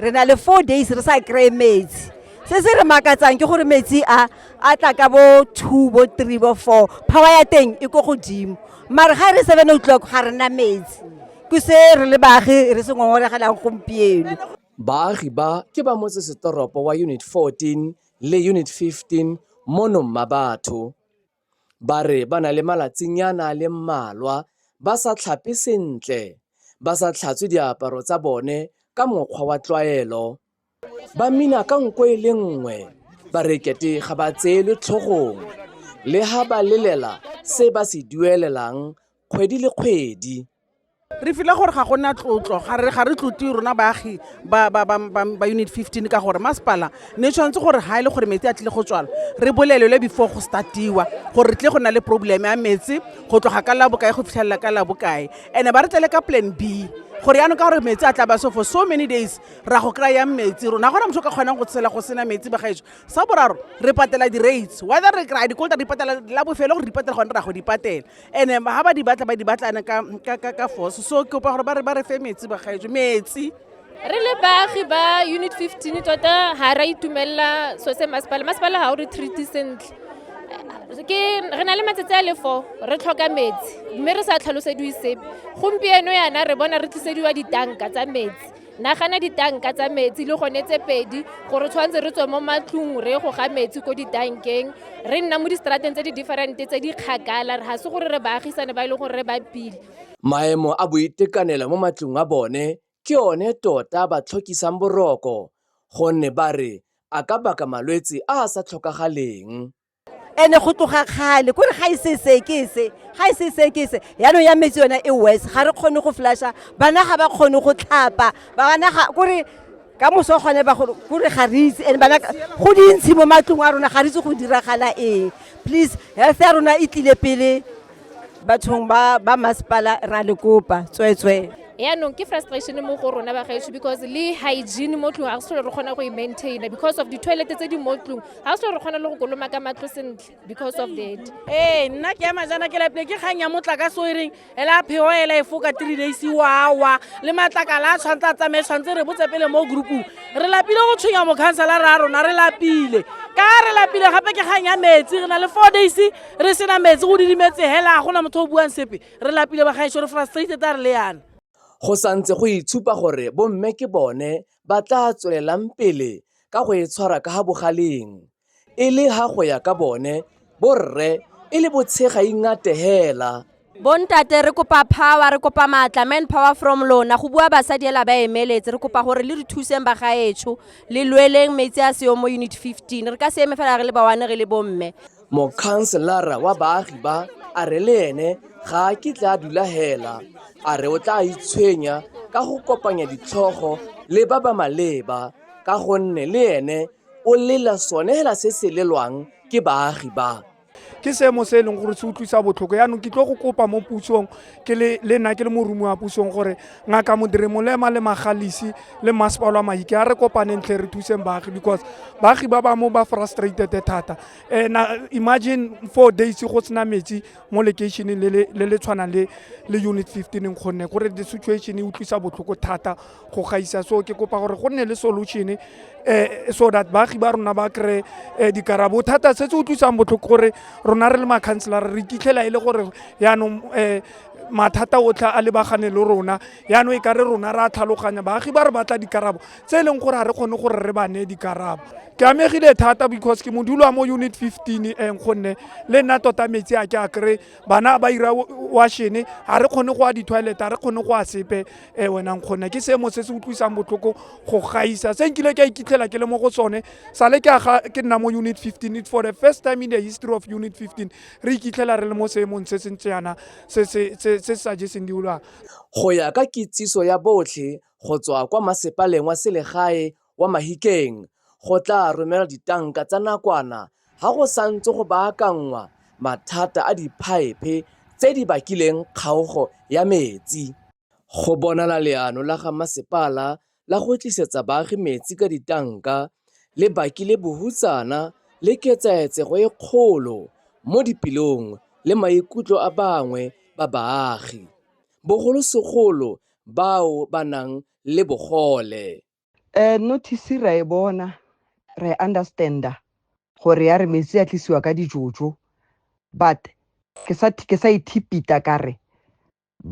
re na le four days re sa kry-e metsi se se re makatsang ke gore metsi a a tla ka bo two bo three bo four power ya teng e ko godimo mare ga e re seven o'clock ga re na metsi ke se re le baagi re se ngongoregelang gompieno baagi ba ke ba motsesetoropo wa unit 14 le unit 15 mono mmabatho ba re ba na le malatsinyana a le mmalwa ba sa tlhape sentle, ba sa tlhatswe diaparo tsa bone ka mokgwa wa tlwaelo, ba mmina ka nko e le nngwe, ba re kete ga ba tseelwe tlhogong le ha ba lelela se ba se duelelang kgwedi le kgwedi. re file gore ga gona tlotlo ga re ga re tlote rona baagi ba ba ba ba unit 15 ka gore masepala ne tshwanetse gore ha ile e gore metsi a tlile go tswala re bolelele before go startiwa gore re tle go na le problem ya metsi go tloga ka la bokae go fitlhelela ka la bokae ene ba re tlele ka plan B gore yaanong ka gore metsi a tla ba so for so many days ra go kry-a metsi rona gona motho o ka kgonang go tshela go sena metsi bagaetso sa boraro re patela di-rates whether re kry-a dikolta di patela la bofelo gore di patela gone ra go di patela ene ga ba di batla ba di batlane ka force so ke kopa gore ba re ba re fe metsi bagaetso metsi re le baagi ba unit 15 tota ga ra itumelela so se masepala masepala ga o re treaty sentle ke re na le matsatsi a le fo re tlhoka metsi mme re sa tlhalosediwe sepe gompieno yana re bona re tlisediwa ditanka tsa metsi nagana ditanka tsa metsi le gone tse pedi gore tshwanetse re tswe mo matlong re go ga metsi ko ditankeng re nna mo distrateng tse di different tse di kgakala ga se gore re baagisane ba e leng gore re ba pile maemo a boitekanelo mo matlong a bone ke one tota ba tlhokisang boroko gonne ba re a ka baka malwetse a a sa tlhokagaleng ene go tloga kgale kore ga e se se ke se ga e se se ke se yaanong ya metsi yona e west ga re kgone go flasha bana ga ba kgone go tlhapa bana ga kore ka moso gone ba gore kore ga re itse and bana go dintshi mo matlong a rona ga re itse go diragala eng please health ya rona e tlile pele bathong ba ba masepala ra le kopa tsweetswee yaanong ke frustration mo go rona bagaetsho because le hygiene mo tlong ga se re kgona go e maintaina because of di-toilet tse di mo tlong ga se re kgona le go koloma ka matlo sentle because of that ee nna ke ema jana ke lapile ke kgang ya motlakase o e reng ela pheo ela e foka three days wawa le matlakala a tshwanetse a tsamaye tshwanetse re botse pele mo groupong re lapile go tshwenya mokhansela re a rona re lapile ka re lapile gape ke kgang ya metsi re na le four days re sena metsi go didimetse hela gona motho o buang sepe re lapile bagaešo re frustrated a re le yana go santse go itshupa gore bomme ke bone ba tla tswelelang pele ka go e tshwara ka ga bogaleng e le ga go ya ka bone borre e le botshega ingate hela bontate re kopa power re kopa maatla man power from lona go bua basadi ela ba emeletse re kopa gore le re thuseng ba gaetsho le lweleng metsi a seyo mo unit 15 re ka se eme fela re le bawane re le bomme mokhanselara wa baagi ba a re le ene ga a kitla a dula hela a re o tla itshwenya ka go kopanya ditlhogo le ba ba maleba ka gonne le ene o lela sone hela se se lelwang ke baagi ba ke seemo se e leng gore se utlwisa botlhoko yaanong ke tlo go kopa mo pusong ke le le nna ke le morumi wa pusong gore ngaka modire molema le magalisi le mmasepalo wa maike a re kopaneng tlhe re thuseng baagi because baagi ba bangwe ba frustrated thata um na imagine four days go sena metsi mo lekeišeneng le le- le le tshwanang le le unit fifteen kgonne gore the situation e utlwisa botlhoko thata go gaisa so ke kopa gore go nne le solution eh, so that baagi ba rona ba kry eh, dikarabo thata se se utlwisang botlhoko gore rona re le makhanselara re kitlhela e le gore yaanong eh, mathata otlhe a lebagane le rona yaanong e ka re rona re a tlhaloganya baagi ba re batla dikarabo tse e leng gore ga re kgone gore re ba neye dikarabo ke amegile thata because ke modulo wa mo unit 15 eng gonne le nna tota metsi a ke a kry bana ba ira washene ga re kgone go a di-toilet ga re kgone go a sepe um wenang kgona ke seemo se se utlwisang botlhoko go gaisa se nkile ke a ikitlhela ke le mo go sone sale ke aga ke nna mo unit 15 it for the first time in the history of unit 15 re ikitlhela re le mo seemong se se ntse yana se se sa jeseng diolwang go ya ka kitsiso ya botlhe go tswa kwa masepaleng wa selegae Kwa Mahikeng go tla romela ditanka tsa nakwana ga go santse go baakanngwa mathata a diphaephe tse di bakileng kgaogo ya metsi. Go bonala leano la ga masepala la go tlisetsa baagi metsi ka ditanka le bakile bohutsana le ketsaetsego e kgolo mo dipelong le maikutlo a bangwe ba baagi, bogolosegolo bao ba nang le bogole. um notice ra e bona re understanda gore ya re metsi a tlisiwa ka dijojo but ke sa ke sa ithipita ka re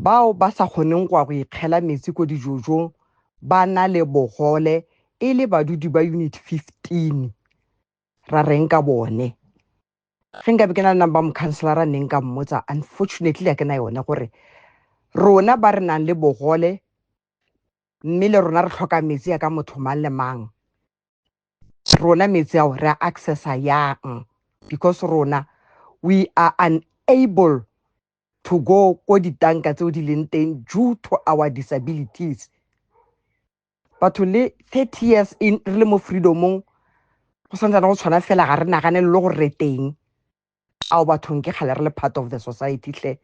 bao ba sa kgoneng go ya go ikgela metsi ko dijojong ba na le bogole e le badudi ba unit 15 ra reng ka bone ge nkabe ke na le number mocounselara neng ka mmotsa unfortunately a ke na yone gore rona ba re nang le bogole mme le rona re tlhoka metsi ya ka motho mang le mang rona metsi ao re a accessa yang because rona we are unable to go ko ditanka tseo di leng teng due to our disabilities batho le 30 years in re le mo freedomong go santsana go tshwana fela ga re nagane le gore re teng ao bathong ke kgale re le part of the society tle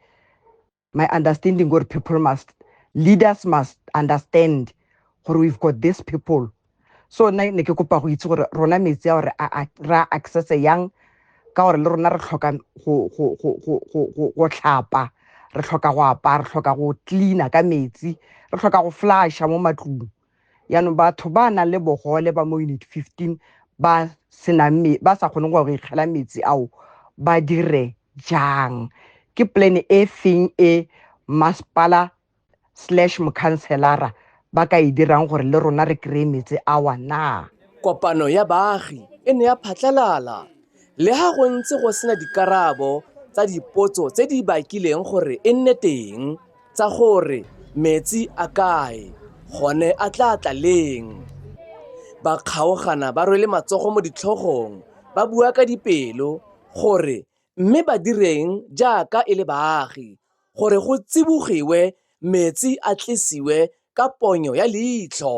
my understanding gore people must leaders must understand gore we've got these people so nna ne ke kopa go itse gore rona metsi a gore ra access yang ka gore le rona re tlhoka go tlhapa re tlhoka go apaya re tlhoka go cleaner ka metsi re tlhoka go flasha mo matlong yaanong batho ba nang le bogole ba mo unit 15 ba senang ba sa kgoneng go ikgela metsi ao ba dire jang ke plan e feng e masepala slash mokhanselara ba ka e dirang gore le rona re kry-e metsi awa na kopano ya baagi e ne ya phatlalala Le ha go ntse go sena dikarabo tsa dipotso tse di bakileng gore e nne teng tsa gore metsi a kae gone a tla tla leng, ba kgaogana ba rwele matsogo mo ditlhogong ba bua ka dipelo gore mme ba direng jaaka e le baagi gore go tsibogiwe metsi a tlisiwe ka ponyo ya leitlho.